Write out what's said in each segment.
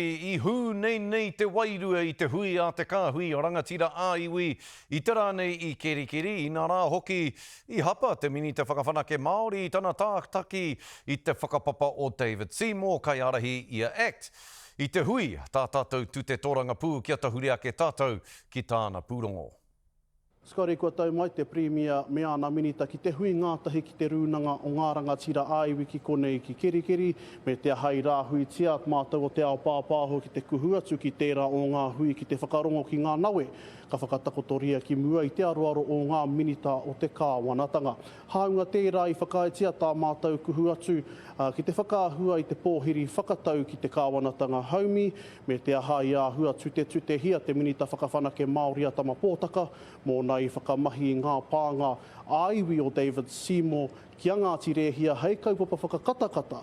I hū nei nei te wairua i te hui a te kāhui rangatira ā-iwi i te rā nei i Kerikeri, inā rā hoki, i hapa te Minita Whakawhanake Māori i tana tātaki i te whakapapa o David Seymour, kaiārahi ia Act, i te hui tā tātou tute tōrangapū kia tahuri ake tātou ki tāna pūrongo. Scotty kua tau mai te Pirimia me ana Minita ki te hui ngātahi ki te Rūnanga o ngā Rangatira ā-Iwi ki konei ki Kerikeri me te aha i rāhuitia at mātou o te ao pāpāho ki te kuhu atu ki tērā o ngā hui ki te whakarongo ki ngā nawe ka whakatakotoria ki mua i te aroaro o ngā Minita o te Kāwanatanga. Hāunga tērā i whakaaetia tā mātou kuhu atu ki te whakaahua i te pōhiri whakatau ki te kāwanatanga haumi me te aha i āhua tutetutehia te Minita Whakawhanake Māori a Tama Pōtaka mōna i whakamahi i ngā pānga ā-iwi o David Seymour ki a Ngāti Rēhia hei kaupapa whakakatakata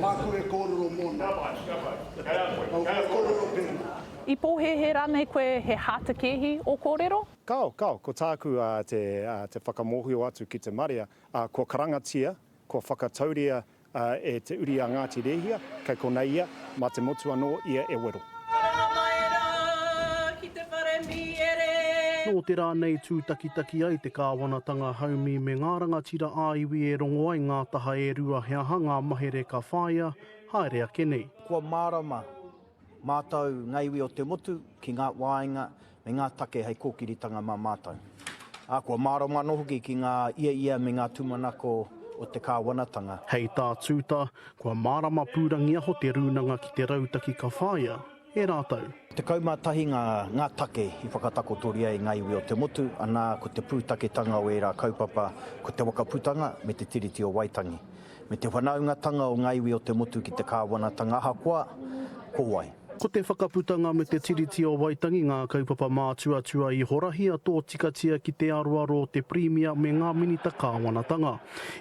Māku e kōrero mōna. Kei a koe. Au e kōrero pēnā. I pōhēhē rānei koe he hātakēhi o kōrero? Kāo, kāo. Ko tāku te whakamōhio atu ki te marea, kua karangatia, kua whakatauria e te uri a Ngāti Rēhia, kei konei ia, mā te motu anō ia e wero. Karanga mai ra ki te whare miere. Nō te rā nei tūtakitaki ai te kāwanatanga haumi me ngā rangatira ā-iwi e rongo ai ngā taha e rua he aha ngā mahere ka whāia, haere ake nei. Kua mārama mātou ngā iwi o te motu ki ngā wāinga me ngā take hei kōkiritanga mā mātou, ā, kua mārama anō hoki ki ngā iaia me ngā tūmanako o te kāwanatanga. Hei tā Tuta, kua mārama pūrangiaho te rūnanga ki te rautaki ka whāia e rātou. Tekau mā tahi ngā ngā take i whakatakotoria e ngā iwi o te motu, anā, ko te pūtaketanga o ērā kaupapa, ko te Waka Putanga me te Tiriti o Waitangi. Me te whanaungatanga o ngā iwi o te motu ki te kāwanatanga ahakoa ko wai. Ko te whakaputanga me te Tiriti o Waitangi ngā kaupapa mātuatua i horahia tōtikatia ki te aroaro o te Pirimia me ngā Minita Kāwanatanga.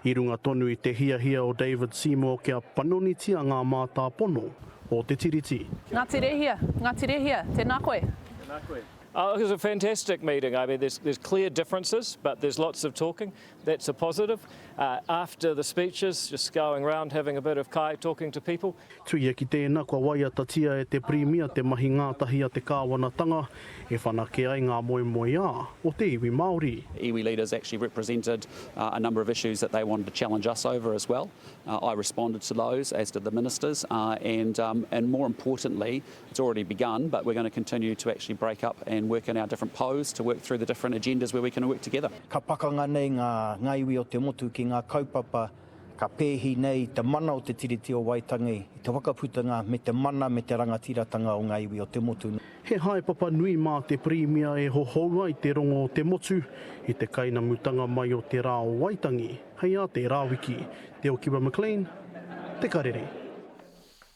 I runga tonu i te hiahia o David Seymour kia panonitia ngā mātāpono o te Tiriti. Ngati Rehia, Ngati Rehia, tēnā koe. Tēnā koe. It was a fantastic meeting. I mean there's clear differences but there's lots of talking. That's a positive. After the speeches, just going round having a bit of kai, talking to people. Tuia ki tēnā kua waiatatia e te Pirimia te mahi ngātahi a te Kāwanatanga e whanake ai ngā moemoeā o te iwi Māori. Iwi leaders actually represented a number of issues that they wanted to challenge us over as well. I responded to those, as did the ministers, and more importantly, It's already begun, but we're going to continue to actually break up and work in our different poles to work through the different agendas where we can work together. Ka pakanga nei ngā ngā iwi o te motu ki ngā kaupapa ka pēhi nei i te mana o te Tiriti o Waitangi, i te whakaputanga me te mana me te rangatiratanga o ngā iwi o te motu. He haepapa nui mā te Pirimia e hohou ai te rongo o te motu i te kainamutanga mai o te rā o Waitangi hei ā tērā wiki. Te Okiwa McLean, Te Karere.